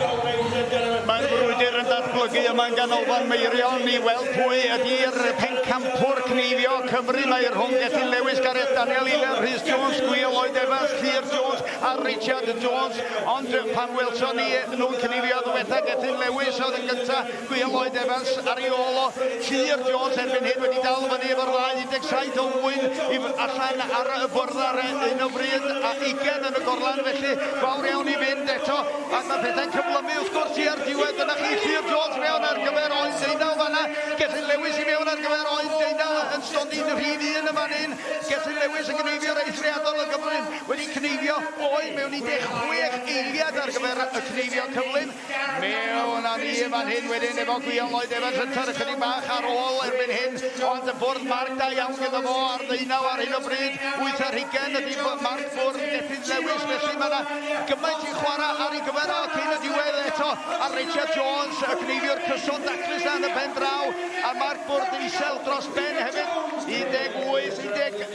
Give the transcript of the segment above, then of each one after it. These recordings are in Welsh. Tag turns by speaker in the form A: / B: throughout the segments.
A: Mae'r brwydr yn datblygu yma yn ganolfan Meirion i weld pwy ydy'r pencampwr cneifio Cymru. Mae rhwng Gethin Lewis, Gareth Daniel, Iler Rhys Jones, Gwyl Lloyd Evans, Llyr Jones a Richard Jones. Ond pan welson ni nhw'n cneifio ddiwetha Gethin Lewis oedd yn gyntaf Gwe Lloyd Evans ar ei ôl o Tuur Jones erbyn hyn wedi dal fyny efo'r ddau 17 o ŵyn i allan ar y bwrdd ar un o fryd a 20 yn y gorlan felly fawr iawn i fynd eto ac mae pethau'n cyflymu wrth gwrs tua'r diwedd dyna chi Tuur Jones mewn ar gyfer oen deunaw fanna Gethin Lewis i mewn ar gyfer oen deunaw yn stondin rhif un yn fan hyn Gethin Lewis yn gneifio'r eithriadol o gyflym wedi cneifio oen mewn 16 eiliad ar gyfer y cneifio cyflym Mewn â ni fan hyn wedyn efo Gwion Lloyd Evans yn tyrru chydig bach ar ôl erbyn hyn, ond y bwrdd marc da iawn gyda fo ar ddeunaw ar hyn o bryd. Wyth ar hugen ydy marc bwrdd Gethin Lewis, felly mae yna gymaint i chwarae ar ei gyfer o cyn y diwedd eto ar Richard Jones, y cneifiwr cyson daclus na yn y pen draw, a marc bwrdd isel dros ben hefyd. 18, 19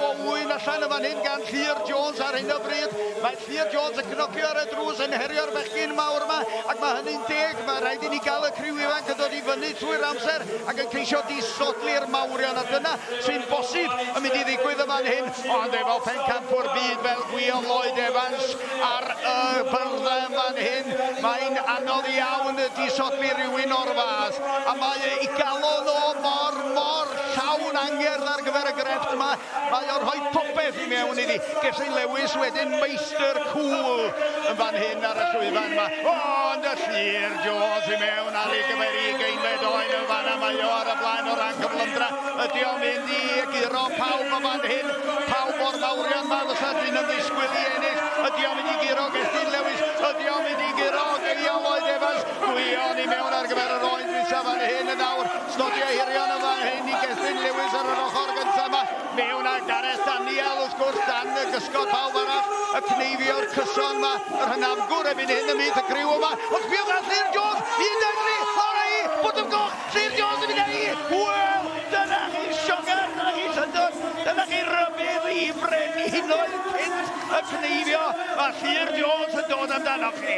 A: o wyn allan yn fan hyn gan Llyr Jones ar hyn o bryd. Mae Llŷr Jones yn cnocio ar y drws yn herio'r bechgyn mawr yma, ac mae hynny'n deg, mae rhaid i ni gael y criw ifanc yn dod i fyny trwy'r amser ac yn ceisio disodli'r mawrion, a dyna sy'n bosib yn mynd i ddigwydd yn fan hyn, ond efo pencampwr byd fel Gwion Lloyd Evans ar y byrddau yn fan hyn, mae'n anodd iawn disodli rhywun o'r fath, a mae ei galon o mor, mor llawn angerdd ar gyfer y grefft yma. Mae o'n rhoi popeth i mewn iddi. Gesyn Lewis wedyn meistr cŵl yn fan hyn ar y llwyfan yma. O, ond y llir Jones i mewn ar ei gyfer i geinfed oen yn fan yma. Mae o ar y blaen o ran cyflymdra. Ydy o'n mynd i guro pawb o fan hyn. Pawb o'r mawrion yma fysa dyn yn ddisgwyl i ennill. Ydy o'n mynd i guro Gesyn Lewis. Ydy o'n mynd i guro Geial Lloyd Evans. Gwion i mewn ar gyfer yr oen dwysa fan hyn yn awr. Slotio hirion yn fan hyn i Gethin Lewis ar yr ochr gyntaf yma. Fe wna Gareth Daniel wrth gwrs dan y gysgod pawb arall. Y cneifio'r cyson yma, yr hynafgwr ebyn hyn ymhlith y griw yma. Ond sbio gan Llyr Jones, 13, lawr â'i bwt o'r goch. Llyr Jones yn mynd â'i Wel, dyna chi sioga, dyna chi syndod, dyna chi rybudd i frenhinoedd cynt y cneifio. Mae Llyr Jones yn dod amdanoch chi.